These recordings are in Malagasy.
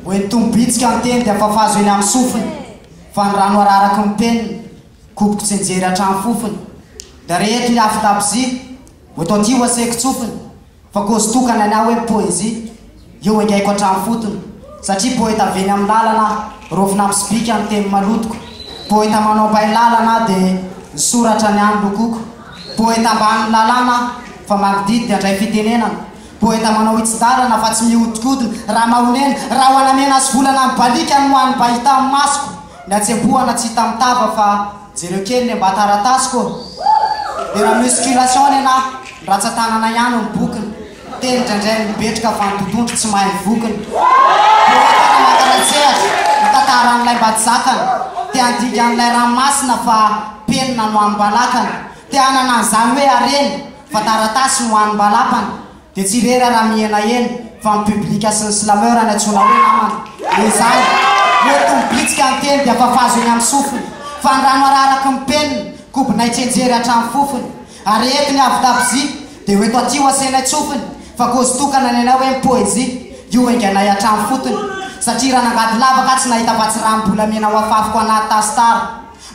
Hoentim-bitsika ny teny dia fafazo eny amin'ny sofiny, fa ny rano araraky ny penina, koboko tsy nijery hatrany fofony. Dia reheto ny afon-dabozia, votoaty ho asehiko tsofiny. Fa cause tokana ny ahy hoe ny poésie io engaiko hatramin'ny fotony satria poeta avy eny amin'ny lalana aho, rovina amin'ny sobika ny teny malotoko, poeta manao bay lalana aho dia ny soratra ny ahy no lokoko, poeta ambanin'ny lalàna aho fa mangididy dia handray fitenenana, poeta manao hitsin-dalana fa tsy mihodikodina, raha mahonena, raha ho anamena sy volana mibaliaka ny ho an'ny mba hita amin'ny masoko, ny hatsempohana tsy hita amin'ny tava fa. Jereo kely ny mba taratasiko ô! Dia na musculation any anà, ny ratsan-tanana ihany no bokona. Teny indraindray ny mibetroka fa ny totohondry tsy mahay ny vokony. Poeta mankanan-tsehatra, mitantara an'ilay mba tsy zakany. Te handinika an'ilay ranomasina fa penina no amim-balakany. Te hanana an'izany hoe harena fa taratasy no hanim-balapany. Dia tsy rery raha mihenahena fa ny public sy ny slameur any antsoina hoe namana. Dia izany, hoento ny bitsika ny teny dia fafazo eny amin'ny sofiny, fa ny rano araraky ny penina, kobonay tsenjery hatramin'ny fofony. Ary rehefa ny avy tabozia, dia hoento aty ho asainay tsofiny, fa cause tokana ny anay hoe ny poezia, io enganay hatramin'ny fotony. Satria raha nangady lavaka aho tsy nahita afa-tsy ranom-bolamena ho afafiko anaty tasitara.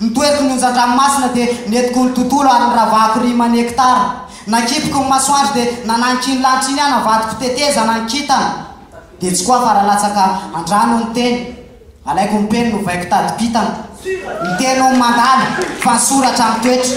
Ny toeriko ny onjan-dranomasina dia nentiko ny tontolo ary niravahako rima ny hekitara. Nakipiko ny masoandro dia nanagniko iny lanitra iny aho navadiko tetezana ny kintana. Dia tsy koa afa-ralatsaka an-drano ny teny. Alaiko ny peny novaiko tadim-pitana. Ny teny hono mandalo fa ny soratra mitoetra.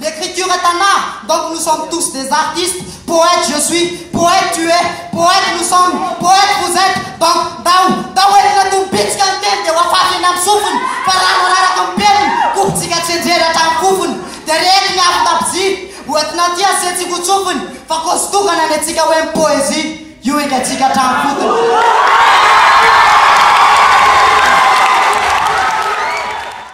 L'écriture est un art donc nous sommes tous des artistes, poète je suis, poète tu es, poète nous sommes, poète vous etes donc ndao, ndao entina toy ny bitsika ny teny dia ho afafy eny amin'ny sofiny fa rano araraka amin'ny peniny, kofintsika tsenjera hatramin'ny fofony dia reheto ny avon-dabozia hoentina aty asiantsika ho tsofiny fa cause tokana ny antsika hoe ny poésie io engatsika hatramin'ny fotony.